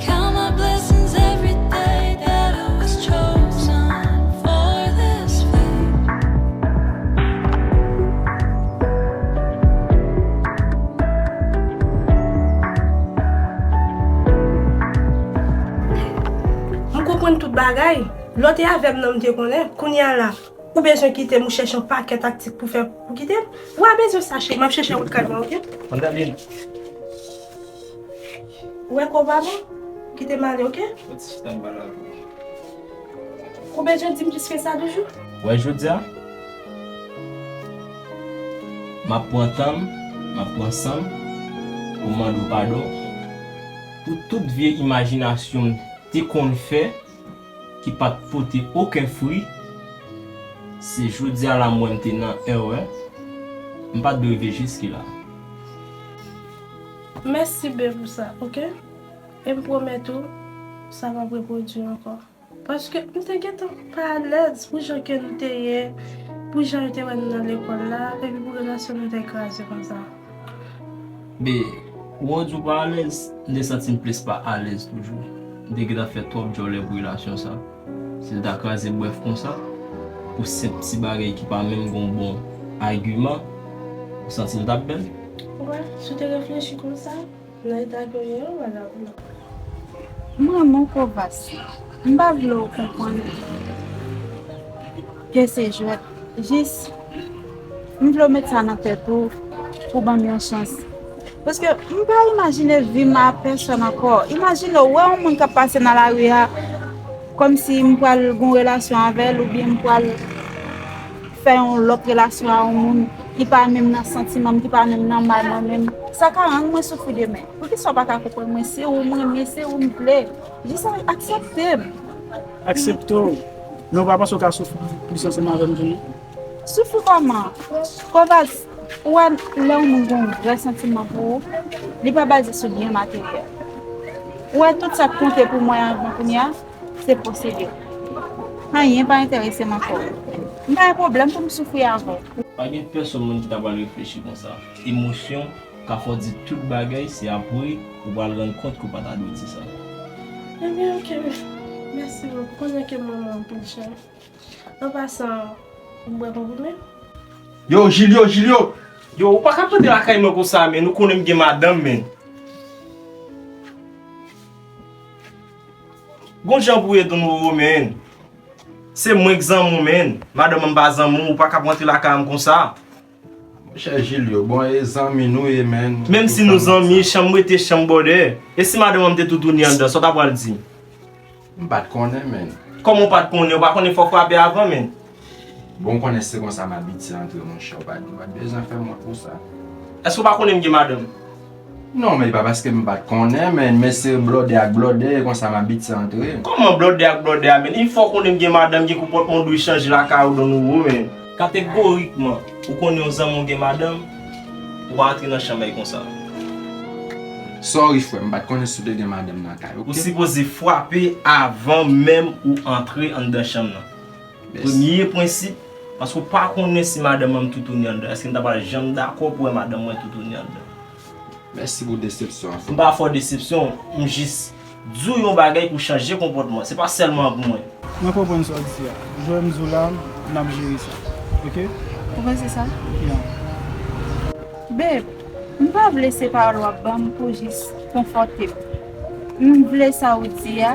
M konprann tout bagay. Lè w te avè m nan m te konnen. Kounye a la, ou bezwen kite m ou chèche yon pakèt aktik pou fè pou kite m. Ou a bezwen sa cheri, m ap chèche wout kay mwen ok. Mandaline. Ou wè konpa non? Kite m ale ok. Bon ti chita m pale avè w. Ou bezwen di m plis ke sa toujou? Wè jodi a? M ap pran tan m, m ap pran san m pou m mande w padon pou tout vye imajinasyon m te konn fè. ki pat pote oken fri se jodia la m wè m te nan èrè m pat dwe rive jiskila. Mèsi bee pou sa ok e m pwomèt ou sa pap repwodui ankò paske m te gentan pa alèz pou jan ke nou te ye pou jan yo te wè nou nan lekòl la epi pou relasyon nou te kraze konsa. B, Wou di w pa alèz, m te santi m plis pa alèz toujou. M te gentan fè twòp djòlè pou relasyon sa. Si l ta kraze brèf konsa, pou senp ti bagay ki pa menm gen w bon agiman, ou santi l t ap bèl? W, Si w te reflechi konsa, Nan eta ke w ye an wala pou nou. M renmen w Kovacs. M pa vle w konprann ke se jwèt. Jis m vle w met sa nan tèt ou pou w ban m yon chans. Paske m pa imajine vi m a pèsòn ankò. Imajine w wè yon moun k ap pase nan lari a kòmsi m pral gen yon relasyon avè l oubyen m pral. fè yon lòt relasyon a yon moun ki pa menm nan santiman m, ki pa menm nan may mwen menm, sa ka rann mwen soufri demen. Poukisa w pa ka konprann mwen? Se ou m renmen, se ou m vle. Jis aksepte m. Aksepte w? Men ou pa panse ou ka soufri plis ansanm avè m tou non? Soufri kòman? Koval, ou wè lè yon moun gen yon vrè santiman pou ou, li pa baze sou byen materyèl. Ou wè tout sa k konte pou mwen anvan kounye a? Se posede w. Anyen pa enterese m ankò. M pa gen pwoblèm pou m soufri avè w. Pa gen pèsonn moun ki ta pral reflechi konsa. Emosyon ka fè w di tout bagay, se apre ou pral rann kont ke w pa ta dwe di sa. Ebyen ok, mèsi boo. Ou konnen ke m renmen w anpil cheri. An pasan, ou bwè konprime? Yo Jilyo, Jilyo! Yo, ou pa ka pete lakay mwen konsa men, ou konnen m gen madanm men. Gon jan pou ye don roro menn. Se mwen k zanmiw menn. Madanm an pa zanmiw ou pa kap rantre lakay an konsa. Monchè Julio bon e zanmi nou ye menn. Menm si nou zanmi chanm rete chanm bòdè. E si madanm an te toutouni anndan sa w ta pral di. M pat konnen menn. Kòman w pat konnen ou pa konnen fò frape avan menn. Bon ou konnen se konsa mabitye antre monchè ou pat ou pat bezwen fèm wont pou sa. Eske ou pa konnen m gen madanm? Non men e pa paske m pat konnen men mesye blòdè ak blòdè e konsa mabitye antre. Kòman blòdè ak blòdè a menn? Yn fwa ou konnen m gen madanm gen konpòtman ou dwe chanje lakay ou don ou menn. Kategorikman ou konnen yon zanmi w gen madanm ou pa antre nan chanmèy konsa. Sorry frè m pat konnen si w te gen madanm nan kay ok. Ou sipoze fwape avan menm ou antre anndan chanm nan. Premye prensip, paske ou pa konnen si madanm mwen toutouni anndan, èske m ta pral janm dakò pou wè madanm mwen toutouni anndan? Mèsi pou desepsyon an. M pa fè w desepsyon, m jis di w yon bagay pou w chanje konpòtman. Se pa sèlman pou mwen. Mwen konprann sa w di a. Jwè m di w la, n ap jere sa. Ok? Ou panse sa? Ya. Babe, m pa vle se pawòl w ap ban m pou jis konfòte m. M vle sa ou di a.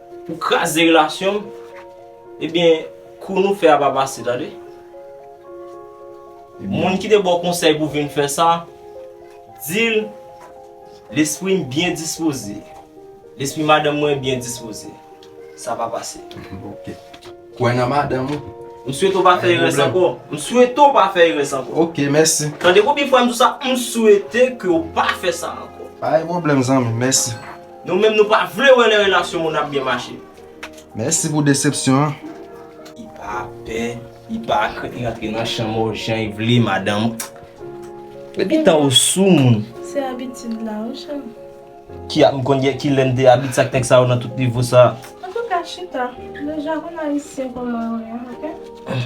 Ou kraze relasyon m Ebyen kou nou fè a pa pase tande Moun ki te ba w konsèy pou w vin fè sa Di l Lespri m byen dispoze Lespri madanm mwen byen dispoze Sa pa pase Kwè nan madanm ou M swete w pa fè erès ankò M swete w pa fè erès ankò Ok mèsi Tande konbyen fwa m di w sa M swete ke w pa fè sa ankò Pa gen pwoblèm zanmi m mèsi. Nou menm nou pa vle wè lè relasyon moun ap byen mache. Mèsi pou desepsyon an. Li pa pè, li pa krent li rantre nan chanm ou jan li vle madanm. Depi tan ou sou moun. Se abitid la wi cheri. Ki ap m konn gen kilè m te abitid ak nèg sa yo nan tout nivo sa. Antouka chita, deja konn ayisyen kòman yo ye ok.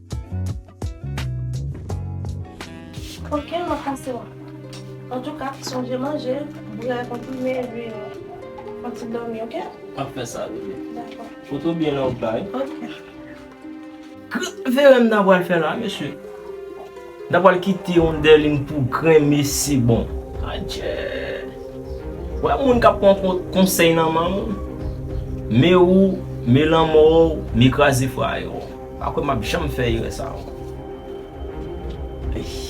Ok map pase wè. Antouka sonje manje bouyi a konprime epi yon ti dòmi ok. Map fè sa bebe. Dako. Foto byen lè wap bay. Ok. K verem nan pral fè la mesye. Nan pral kite yon dèlin pou gren mesi bon. Adjee. Ou wè moun kap pran konsèy nan m'en moun. Me ou, me lanmò ou, me kraze fraye ou. Pa kwè map janm fè erè sa anko. Eeii.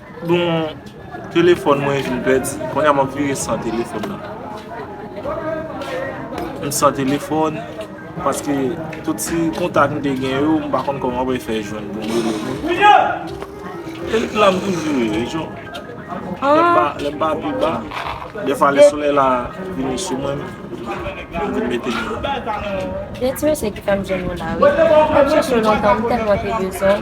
Bon telefòn mwen vin pèdi. Konnya map vire san telefòn nan. M san telefòn. Paske tout si kontak m te gen yo. M pa konn kòman mwen fè jwenn pou m rele moun. E la m toujou ye. E jan. Lè m pa pi ba. De fwa lè solèy la vini sou mwen. M vin mete m nan. Gen ti mesye ki fè m jwenn yo la wi. M ap chèche yo lontan. M tèlman te bezwen.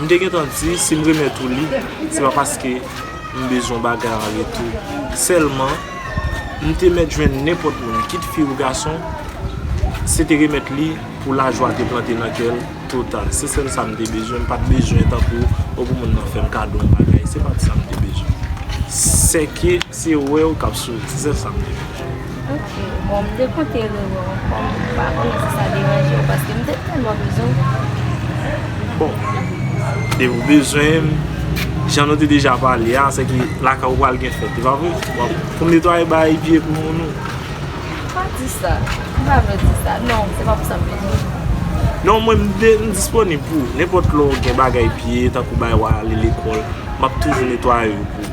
M te gentan di si m remèt ou li, se pa paske m bezwen yon bagay an retou. Sèlman, m te mèt jwenn nenpòt moun, kit fi ou gason, se te remèt li pou lajwa te plante nan kè l total. Se sèl sa m te bezwen. M pa t bezwen tankou ou pou moun nan fè m kado yon bagay. Se pa t sa m te bezwen. Sèke se wè ou k ap souri. Se sèl sa m te bezwen. Ok bon m te konte rewè w ankò m pa konnen si sa deranje w paske m te tèlman bezwen w. Bon e ou bezwen m jan nou te deja pale a se ke lakay ou pral gen fèt e pa vre pou m netwaye bay epi pou moun ou. Pa di sa m pa vle w di sa non se pa pou sa m te vini. Non mwen m disponib pou ou nenpòt lè w gen bagay piye tankou bay w ale lekòl m ap toujou netwaye yo pou ou.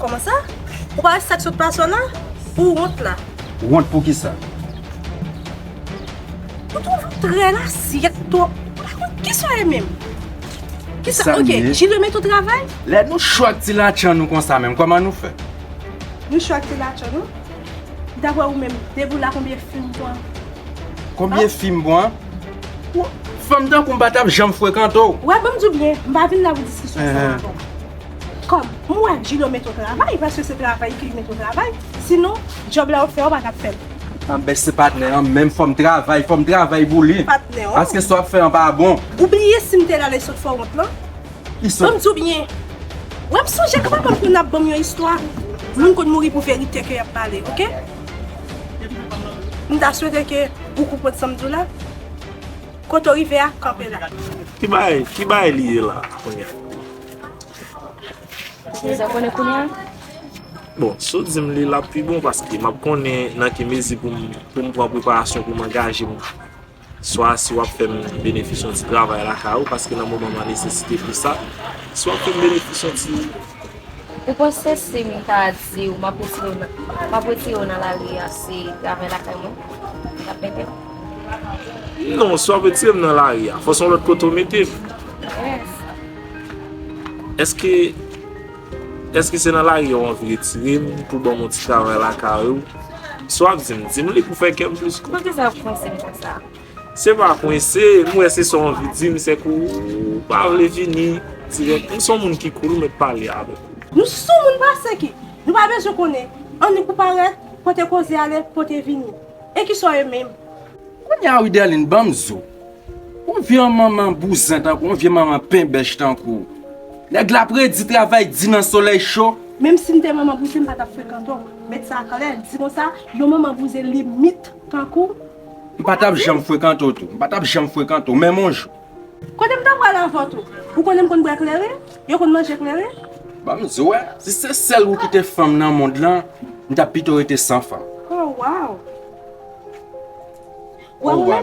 Koman sa? Ou pa wè sak sot pase w la? Ou wont la? Wont pou kisa? Ou toujou trè la syèt twòp. Ou pa konn kisa w ye menm. Kisa ok, Jil remet ou travay? Lè nou cho ak ti latchan nou konsa menm, koman nou fè? Nou cho ak ti latchan nou? Daprè ou menm, depi w la konbyen fi m pwan? Konbyen fi m pwan? Fanm tankou m pa tap janm frekante w. Wè, banm di w byen, m pa vin la pou diskisyon sa ankò. Kòm m wè Djilo met ou travay, paske se travay ki met ou travay, sinon djòb la ou fè ou pa tap fè l. Anbèch se patnè an menm fòm travay, fòm travay pou li. Patnè an. Paske sa w ap fè an pa bon. Ou bliye si m te la lè isòt fè w wont lan? Isòt. Ban m di w byen. Wè m sonje kman banm konn ap ban m yon istwa, moun konn mouri pou verite ke y ap pale ok. M ta swete ke ou konprann sa m di w la. Kote w rive a, kanpe la. Ki bagay, ki bagay li ye la kounya? Deja konnen kounye a? Bon, si w di m li, l ap pi bon paske m ap konnen nan ki mezi pou m pran preparasyon pou m angaje m. Swa si w ap fè m benefis yon ti travay lakay ou paske nan moman m an nesesite pou sa, si w ap fè m benefis yon ti. Ou panse si m ta di w m ap retire w nan lari a se travay lakay mwen w t ap mete m? Non, si w ap retire m nan lari a, fò s on lòt kote w mete m. Eske Eske se nan lari ou anvi retire m pou banm yon ti travay lakay ou? Sa w ap di m? Di m li pou fè kè m plis kontan. Poukisa w ap kwense m konsa? Se pa kwense, m wè se sa w anvi di m, se ke w pa vle vini dirèk. M son moun ki koul, m mèt pale avèk ou. Nou sou moun pase ki? Nou pa bezwen konnen. Annik ou parèt, kote koze ale, kote vini. E kisa w ye menm? Kounya Widelin banm zo. Yon vye manman bouzen tankou yon vye manman penbèch tankou w. Nèg la ap redi travay di nan solèy cho. Menm si m te manman bouzen m pa t ap frekante w. Met sa klè, di konsa, yon manman bouzen limit tankou w. M pa t ap janm frekante w tou. M pa t ap janm frekante w menm yon jou. Kote m ta pral avè tou? Ou konnen m konn bwè klere? Yo konn manje klere? Ban m di w wè, si se sèl ou ki te fanm nan mond lan, m t ap pito rete san fanm. Oh, wow! Wè ou wè,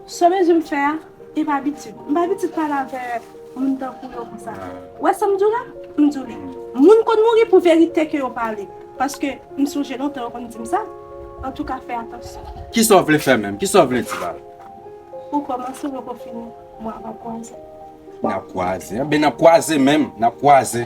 sou mezi m fè a, e m abitid. M pa abitid pale avè moun tankou yo konsa. Ou wè sa m di w la? M di w li. Moun konn mouri pou verite ke yo pale. Paske m sonje lontan yo konn di m sa. Antouka fè atansyon. Kisa w vle fè menm? Kisa w vle di la? Ou kòmanse, ou poko fini. Mwen avè w kwaze. N ap kwaze? Enben n ap kwaze menm. N ap kwaze.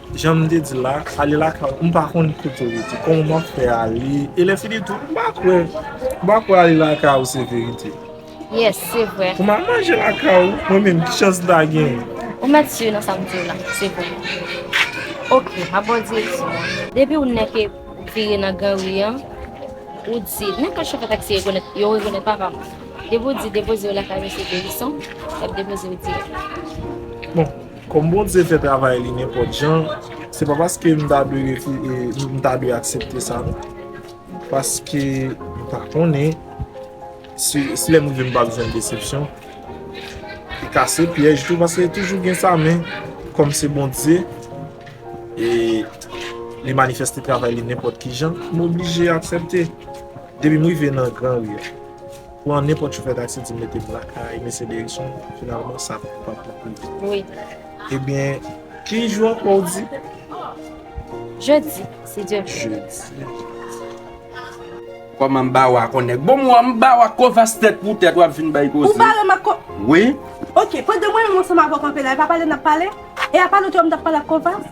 Janm te di la, ale lakay ou m pa konn kote ou rete, kòman wap fè ale, e lè fini tou m pa kwè, m pa kwè ale lakay ou se verite. Yes, se vre. Pou m al manje lakay ou, mwen menm ki chans m ta genyen? Ou mèt si nan sa m di w la, se vre. Ok, m ap ba w direksyon an. Depi ou nèke vire nan gran ri an, ou di, nenpòt chofè taksi rekonèt, yo rekonèt papa m. Depi ou di depoze yo lakay mesye Delison, y ap depoze yo dirèk. Bon, Kòm Bondye fè travay li nenpòt jan, se pa paske m ta dwe refize, m ta dwe aksepte sa non. Paske m pa konnen si lè m rive m pap jwenn desepsyon. Li ka se pyèj tou paske toujou gen sa men kòm se Bondye e li manifeste travay li nenpòt ki jan, m oblije aksepte depi m rive nan granri a. Pran nenpòt chofè taksi di mete m lakay mesye Derison, finalman sa pa t rive. Ebyen, ki jou ankò w di? Jedi, si Dye vle. Jedi. Kòman m ba w a konnèk? Bon m wè w m ba w a kòvas tèt pou tèt w ap vin bay koze. Ou bare m ak kò. Wi. Ok, pandan mwen menm ansanm avè w kanpe la, e pa pale n ap pale? E apa lòt jou a m t ap pale ak kòvas?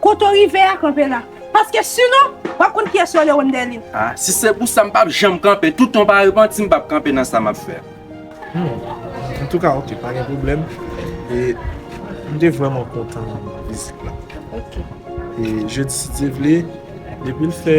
Kote w rive a, kanpe la. Paske sinon, w ap konn kiyès yo Leon Dèlin. A, si se pou sa, m pap janm kanpe. Toutan w pa repanti, m pap kanpe nan sa m ap fè a. Hum. Antouka, ok, pa gen pwoblèm. E, m te vrèman kontan vizit la. Ok. E, je di si Dye vle, depi l fè.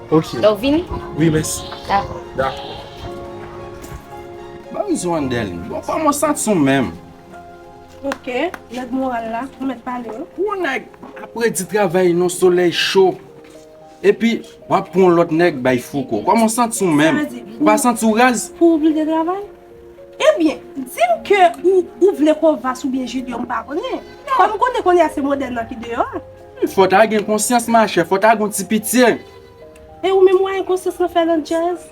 Ok. Lè ou vini? Wi, mèsi. Dakò. Dakò. Ban m zo an dèl. Bon pa mwen sa t son menm. Ok, nèg moral la, ou mèt pale wi. Pou yon nèg ap redi travay nan solèy cho, epi w ap pou yon lòt nèg bay fouco. Kòman w santi w menm? Ou pa santi w raz? Pou ou plede travay? Ebyen, di m ke ou vle kovas oubyen jilyon m pa konnen. Kòm m konnen kounye a se modèn nan ki deyò a. Fò ta gen konsyans machè, fò ta gon ti pitye. E ou menm ou a enkonsyans nan fè landjèz?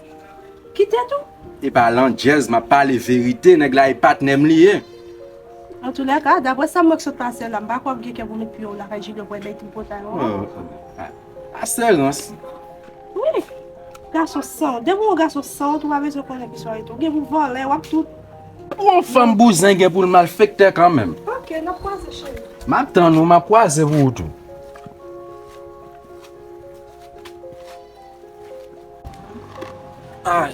Ki tèt ou? E pa landjèz map pale verite nèg la e patnèm li ye. Antoulèka, daprè sam wè k sot pasè la, m pa kwè wap gen kè vomi piye w lakay Jilyo bwè bèy tripotay w an. Oh, asè rans. Wi, gason san wont, depi w gon gason san wont ou pa bezwen konnen ki swa rete, ou gen pou vòlè, wap tout. Pou yon fanm bouzen gen poul malfektè kanmenm. Ok nap kwaze cheri. Map tann ou map kwaze pou ou tou. Ay.